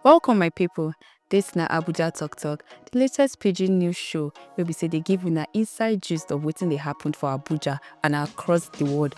Welcome my people, dis na Abuja Talk Talk, di latest pidgin news show wey be say dey give una inside gist of wetin dey happen for Abuja and across di world.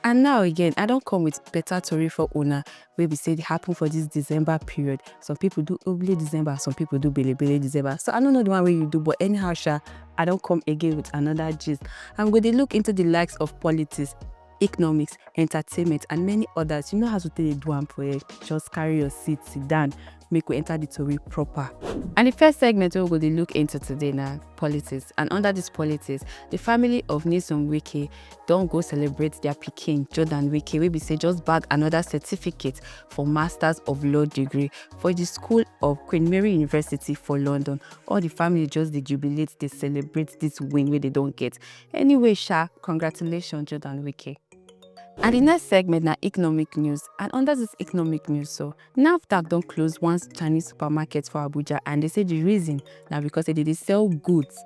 And now again, I don come with better tori for una wey be say dey happen for this December period. Some people do Oble December, some people do Bele Bele December. So I no know the one wey you do, but anyhow sha, I don come again with another gist. And we go dey look into the likes of politics, economics, entertainment and many others. You know how to take dey do am for here. Just carry your seat, sit down. make we enter the tori proper. And the first segment wey we go dey look into today na politics and under this politics, the family of Nyesom Wike don go celebrate their pikin Jordan Wike wey be say just bag another certificate for Masters of Law degree for the school of Queen Mary University for London. All the family just dey jubilate, dey celebrate this win wey they don get. Anyway sha, congratulations Jordan Wike. And the next segment na economic news and under this economic news so, nafdac don close one chinese supermarket for abuja and dey say di reason na becos say dey dey sell goods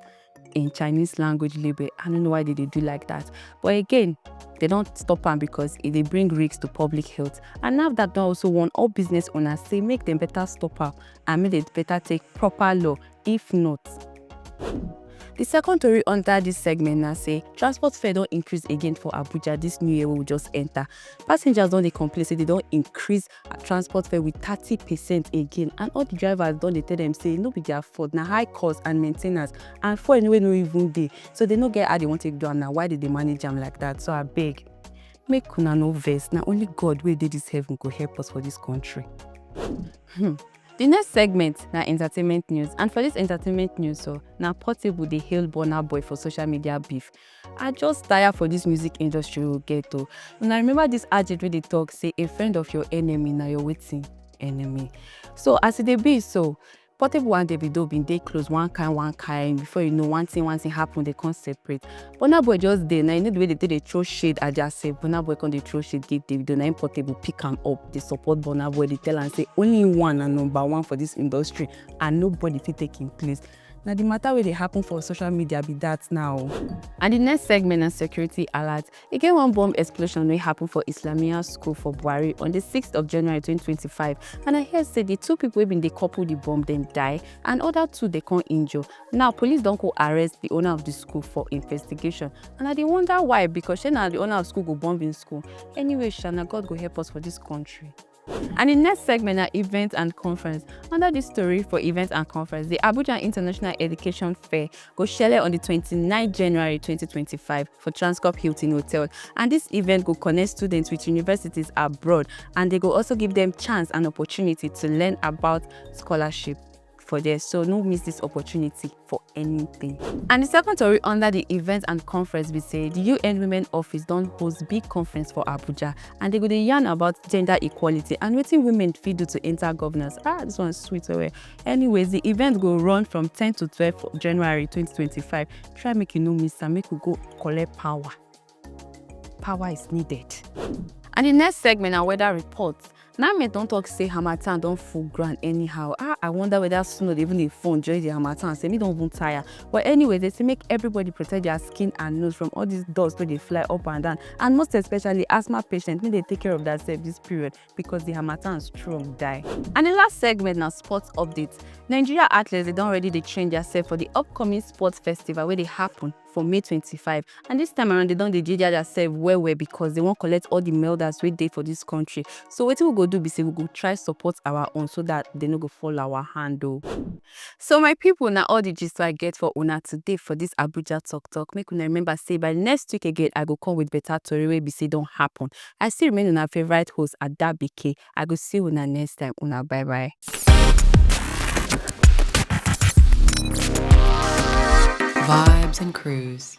in chinese language label i no know why dey dey do like dat but again dey don stop am becos e dey bring risk to public health and nafdac don also warn all business owners say make dem beta stop am and make dem beta take proper law if not. Di second tori under dis segment na say transport fare don increase again for Abuja dis new year wey we just enter. Passengers don dey complain say dem don increase transport fare with thirty percent again and all di drivers don dey tell dem say no be their fault, na high cost and maintenance and fuel wey no even dey. So dem no get how dem wan take do am na why dem dey manage am like that. So abeg make una no vex, na only God wey dey dis heaven go help us for dis country. Hmm. Di next segment na entertainment news and for dis entertainment news so, na Portable dey hail Burna Boy for social media beef. I just tire for dis music industry we get o. Una remember dis adage wey dey talk say a friend of your enemy na your wetin? Enemy. So as e dey be so, Portable and Davido bin dey close one kind one kind before you know one thing one thing happen dey come separate. Burna Boy just dey na, you know the way dey take dey throw shade Ajase, Burna Boy come dey throw shade give Davido, na him Portable pick am up dey support Burna Boy dey tell am say only one na number one for this industry and nobody fit take him place. Na the matter wey dey happen for social media be that now o. And the next segment na security alert. E get one bomb explosion wey happen for Islamiyah school for Bwari on the sixth of January twenty twenty five and I hear say the two people wey been dey couple the bomb dem die and other two dey come injure. Now police don go arrest the owner of the school for investigation and I dey wonder why because shey na the owner of school go bomb him school. Anyway sha na God go help us for this country. And the next segment na event and conference. Under this story for event and conference, the Abuja International Education Fair go shele on the 29 January 2025 for Transcorp Hilton Hotel and this event go connect students with universities abroad and they go also give them chance and opportunity to learn about scholarship. for there so no miss this opportunity for anything. And the second story under the event and conference be say the UN Women Office don host big conference for Abuja and they go dey yarn about gender equality and wetin women fit do to enter governance. Ah, this one sweet well. Anyways, the event go run from 10 to 12 January 2025. Try make you no miss am, make we go collect power. power is needed. And the next segment na weather report. Name don talk say harmattan don full ground anyhow. Ah, I wonder whether snow dey even dey fall during the harmattan. Say me don even tire. But anyway, they say make everybody protect their skin and nose from all these dust wey dey fly up and down. And most especially asthma patients, make they take care of themselves this period because the harmattan strong die. And the last segment na sports update. Nigeria athletes dey don already dey train themselves for the upcoming sports festival wey dey happen for May twenty five and dis time around dem don dey ginger their self well well because dem wan collect all the melders wey dey for dis country so wetin we go do be say we go try support our own so dat dem no go fall our hand o. So my people na all the gist wey I get for una today for dis Abuja talk talk make una remember say by next week again I go come with better tori wey be say don happen I still remain una favourite host Adabike I go see una next time una bye bye. Vibes and Cruise.